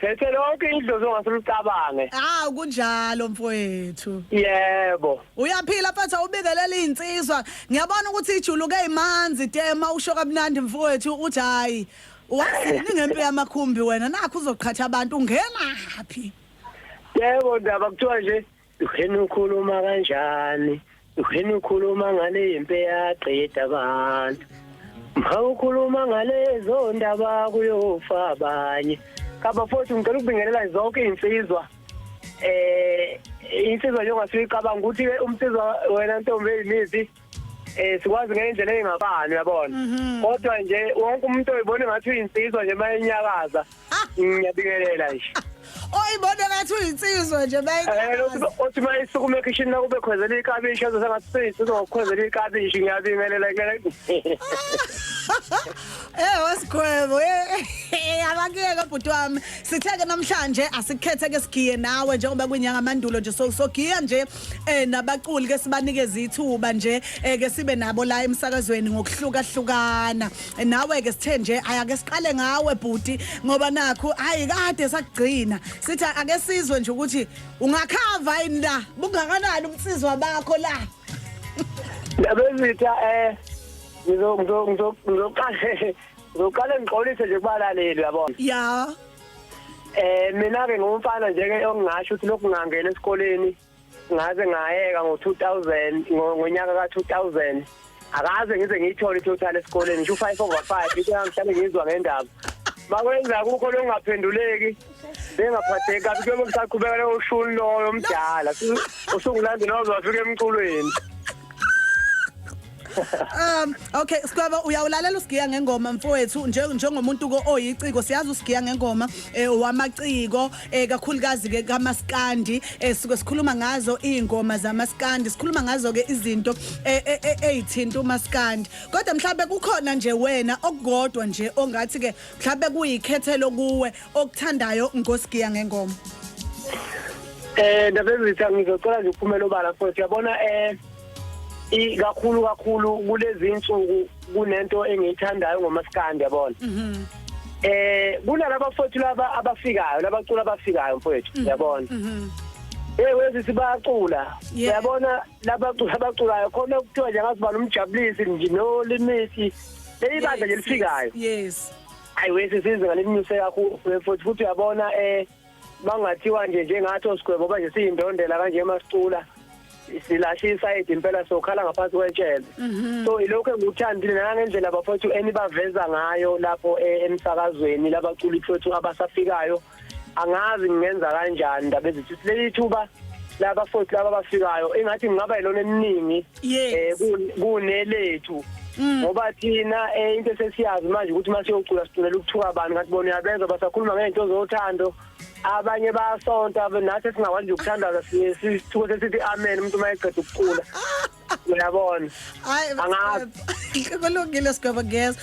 Phethe lonke idlozi ongase ulicabange. Hawu kunjalo mfowethu. Yebo. Uyaphila mfethu awubingelela izinsizwa. Ngiyabona ukuthi ijuluke imanzi tema usho kamnandi mfowethu uthi hayi. Wazini ngempi yamakhumbi wena nakho uzoqhatha abantu ungenaphi? Yebo ndaba kuthiwa nje Uheni ukhuluma kanjani? Uheni ukhuluma ngale impi eyaqeda abantu. Mha ukhuluma ngalezo ndaba kuyofa abanye. Kabafowethu ngicela ukubingelela zonke iy'nsizwa eh insizwa njengoba siyicabanga ukuthi-ke umsizwa wena ntombi eyimithi eh sikwazi ngendlela engabani uyabona mhm. kodwa nje wonke umuntu oyibona ngathi uyinsizwa nje mayenyakaza ah! ngiyabingelela nje oyibona ngathi uyinsizwa nje mayenyakaza eh, othi mayisukume ekhishini nakube khwezela ikabishi azosa ngathi seyisizwa ngokukhwezela ikabishi ngiyabingelela Eh wasigwebo eh, eh abakuyeke bhuti wami sitheke namhlanje asikhethe ke sigiye nawe njengoba kwinyanga mandulo nje so sogiya nje eh nabaculi ke sibanikeze ithuba nje eh, ke sibe nabo la emsakazweni ngokuhluka hlukana Eh, nawe ke sithe nje ayake siqale ngawe bhuti ngoba nakho hayi kade sakugcina sithi ake sizwe nje ukuthi ungakhava yini la bungakanani umsizwa bakho la Ndabezitha eh ngizo ngizo ngizo ngizoqale ngizoqale ngixolise nje kubalaleli yabona. ya Eh mina ke ngumfana nje ke ongingasho ukuthi lokhu ngangena esikoleni ngaze ngayeka ngo-2000 ngo- ngonyaka ka-2000 akaze ngize ngiyithole i-total esikoleni ngisho u-five over five into yangihlale ngizwa ngendaba bakwenza kukho lokungaphenduleki bengaphatheki kabi kuyobe kusaqhubeka leyo shuni loyo omdala Su- usungulande noze wafika emculweni um okay sikwaba uyawulalela usigiya ngengoma mfowethu njengomuntu ko oyiciko siyazi usigiya ngengoma eh, wamaciko eh, kakhulukazi ke kamaskandi eh, sike sikhuluma ngazo izingoma zamaskandi sikhuluma ngazo ke izinto ezithinta umaskandi kodwa mhlawumbe kukhona nje wena okukodwa nje ongathi ke mhlawumbe kuyikhethelo kuwe okuthandayo ngosigiya ngengoma Eh ndabezitha ngizocela nje uphumela obala futhi yabona eh ikakhulu kakhulu kulezi insuku kunento engiyithandayo ngomaskandi yabona mhm. eh kunalaba fethu laba abafikayo labacula abafikayo mfethu mhm. yabona mhm. eh wezi sibacula uyabona labacula abaculayo khona kuthiwa nje ngasibala umjabulisi nje no limiti leyibandla nje lifikayo yes ayi wesi sizinga lelinyuse kakhulu futhi futhi uyabona eh bangathiwa nje njengathi osigwebo ngoba nje siyindondela kanje masicula silasha isayidi impela sokhala ngaphansi kwetshele mhm. so ilokho engikuthandile nangendlela bafowethu enibaveza ngayo lapho e, emsakazweni labaculi fethu abasafikayo angazi ngingenza kanjani ndaba ezithi leli thuba laba foti laba bafikayo engathi ngingaba yilona eminingi Yes. eh kun- kunelethu Mm. ngoba thina eh into esesiyazi manje ukuthi masiyocula siculela ukuthuka abantu ngathi bona uyabezwa basakhuluma ngento zothando abanye bayasonta abe- nathi singakwazi nje ukuthandaza si- sithuke sesithi amen umuntu uma eqeda ukucula uyabona Hayi Angazi. kulungile sigwebo ngezwe.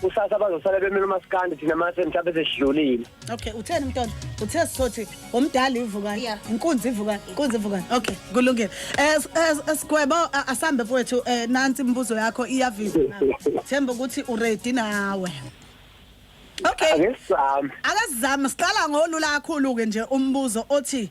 kusasa bazosala bemile umaskandi thina mase mhlawumbe sesidlulile okay utheni mntwana uthe sizothi umdala ivukani Yeah. inkunzi ivukani inkunzi ivukani okay kulungile Eh, s- eh, s- eh, sigwebo a- asambe mfowethu eh, nansi imibuzo yakho iyavisa na. themba ukuthi uredi nawe okay akesizame akazizame siqala ngolula kakhulu-ke nje umbuzo othi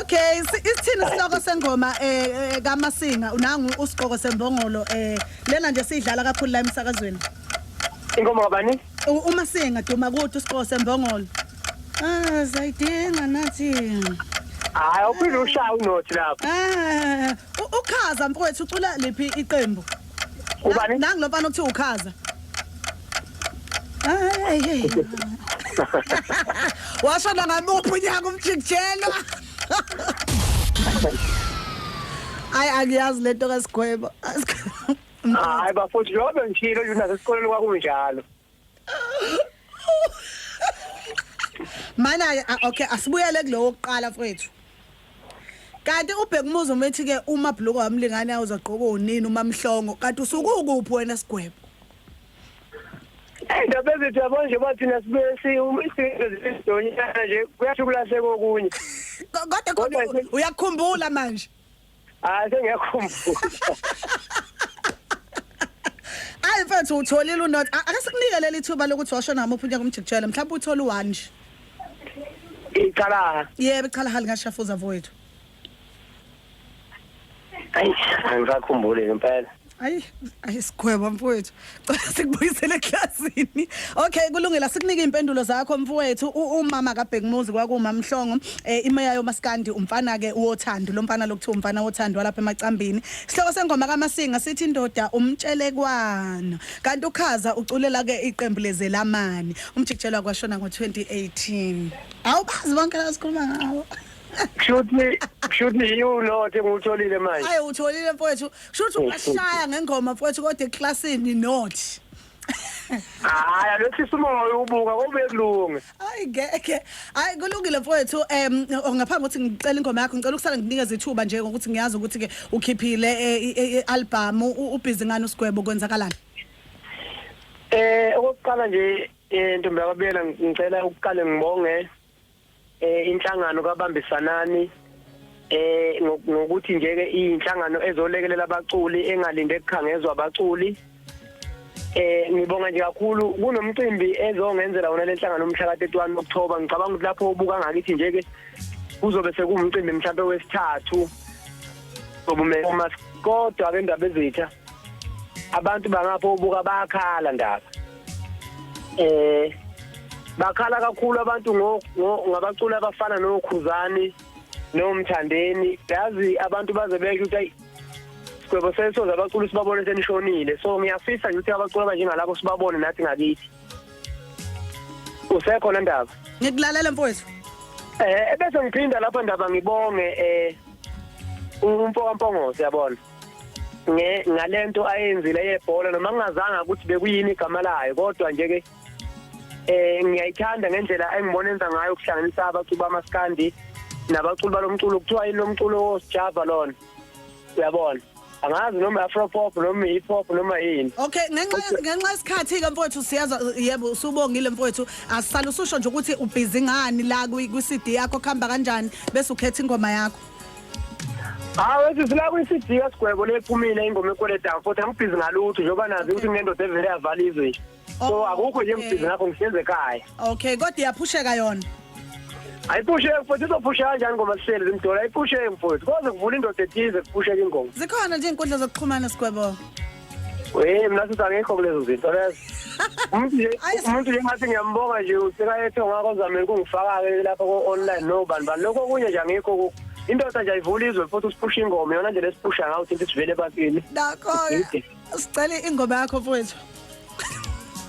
Okay, isithini isihloko sengoma eh, eh kaMasinga unangu usiqoko sembongolo eh lena nje sidlala kakhulu la emsakazweni. Ingoma kabani? UMasinga duma kuthi usiqoko sembongolo. Ah, zayidinga nathi. Hayi, uphinde ushaya unothi lapho. Ah, ukhaza mfowethu ucula liphi iqembu? Ubani? Nangu lo mfana okuthiwa ukhaza. Ay hey. Washo la ngamuphi unyaka umjikjelo. Ay angiyazi lento kasigwebo. Hayi bafowethu lokho ngishilo yona sesikoleni kwakunjalo. mana ke ah, okay asibuyele kulowo kuqala mfowethu kanti ubheka umuzi uma ethi ke uma bhluko wamlingane awuzogqoka unini uma mhlongo kanti usukukuphi wena sigwebo indaba ezithi yabo nje bathina sibesi umisiidonyana nje kuyathi kulahleka okunye Ko- kodwa khona Kodwa u- uyakukhumbula manje Hayi sengiyakhumbula. Hayi mfethu utholile unot akasekunike leli thuba lokuthi washo nami uphunya kumjikijele mhlawumbe uthola u1 nje. Iqala. Yebo iqala hali ngashafuza mfowethu. Ayi, angisakhumbuli impela. ayi ayi sigweba mfowethu cela sikubuyisele eklasini okay kulungile asikunike impendulo zakho mfowethu umama kabhekumuzi kwakuma mhlongo eh, imeya yomaskandi umfana ke uwothando lo mfana lokuthiwa umfana wothando walapha emacambini isihloko sengoma kamasinga sithi indoda umtshelekwana kanti ukhaza uculela ke iqembu lezelamani umjikijelwa kwashona ngo-2018 awubazi bonke la sikhuluma ngawo kushuthi kushuthi yiyo lothe ngutholile manje ayi utholile mfowethu Shuthi ungashaya ngengoma mfowethu kodwa eklasini not. Hayi alothisa umoya ubuka kube kulunge. Hayi ngeke. Hayi kulungile mfowethu em ngaphambi ukuthi ngicela ingoma yakho ngicela ukusala nginikeza ithuba nje ngokuthi ngiyazi ukuthi ke ukhiphile i-album ubhizi ngani usigwebo kwenzakalani. Eh okokuqala nje eh ntombi yababela ngicela ukuqale ngibonge eh inhlangano kabambisanani eh ngokuthi nje ke inhlangano ezolekelela abaculi engalinde kukhangezwa abaculi eh ngibonga nje kakhulu kunomcimbi ezongenzela wona lenhlangano umhla ka-31 October ngicabanga ukuthi lapho ubuka ngakithi nje ke kuzobe sekuwumcimbi mhlawumbe wesithathu sobume uma kodwa ke ndaba ezitha abantu bangapho ubuka bayakhala ndaba eh bakhala kakhulu abantu ngabaculi abafana nokhuzani nomthandeni yazi abantu baze beke ukuthi sigwebo sesoze abaculi sibabone senishonile so ngiyafisa nje ukuthi abaculi abanjengalabo sibabone nathi ngakithi usekhona ndaba ngikulalela mfowethu eh ebese ngiphinda lapha ndaba ngibonge eh umfoka mpongozi yabona nge ngalento ayenzile yebhola noma ngingazanga ukuthi bekuyini igama layo kodwa nje ke eh ngiyayithanda ngendlela engibona enza ngayo ukuhlanganisa abaculi bamaskandi nabaculi balomculo kuthiwa yini lomculo wosijava lona uyabona angazi noma afro pop noma hip hop noma yini okay ngenxa ngenxa isikhathi ke mfowethu siyaza yebo usubongile mfowethu asisala ususho nje ukuthi ubhizi ngani la kwi CD yakho khamba kanjani bese ukhetha ingoma yakho hawu ethi sila kwi-cd kasigwebo lephumile ingoma ekweleta futhi angibhizi ngalutho njengoba nazi ukuthi kunendoda evele yavala izwe nje so Oh, akukho nje okay. ngibhizi ngakho ngihlezi ekhaya okay kodwa iyaphusheka yona ayiphusheki futhi izophusheka kanjani ngoma sihleli zimdola ayiphusheki futhi koze kuvula indoda ethize kuphusheka ingoma zikhona nje inkundla zokuxhumana sigwebo Hey mina sithi akekho kulezo zinto lezo. Umuntu nje umuntu nje ngathi ngiyambonga nje usekayethe ngakho zamele kungifaka-ke lapha ko-online no bani bani lokho okunye nje angikho kukho indoda nje ayivula izwe futhi usiphusha ingoma yona nje lesiphusha ngawo ukuthi sivele ebantwini nakho-ke sicela ingoma yakho mfowethu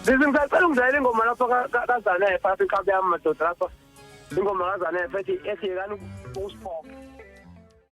Sisi ngisacela ungidlalela ingoma lapho kaZanele phakathi iqhabi yami madoda lapho ingoma kaZanele ethi ethi yekani ukusiphoxa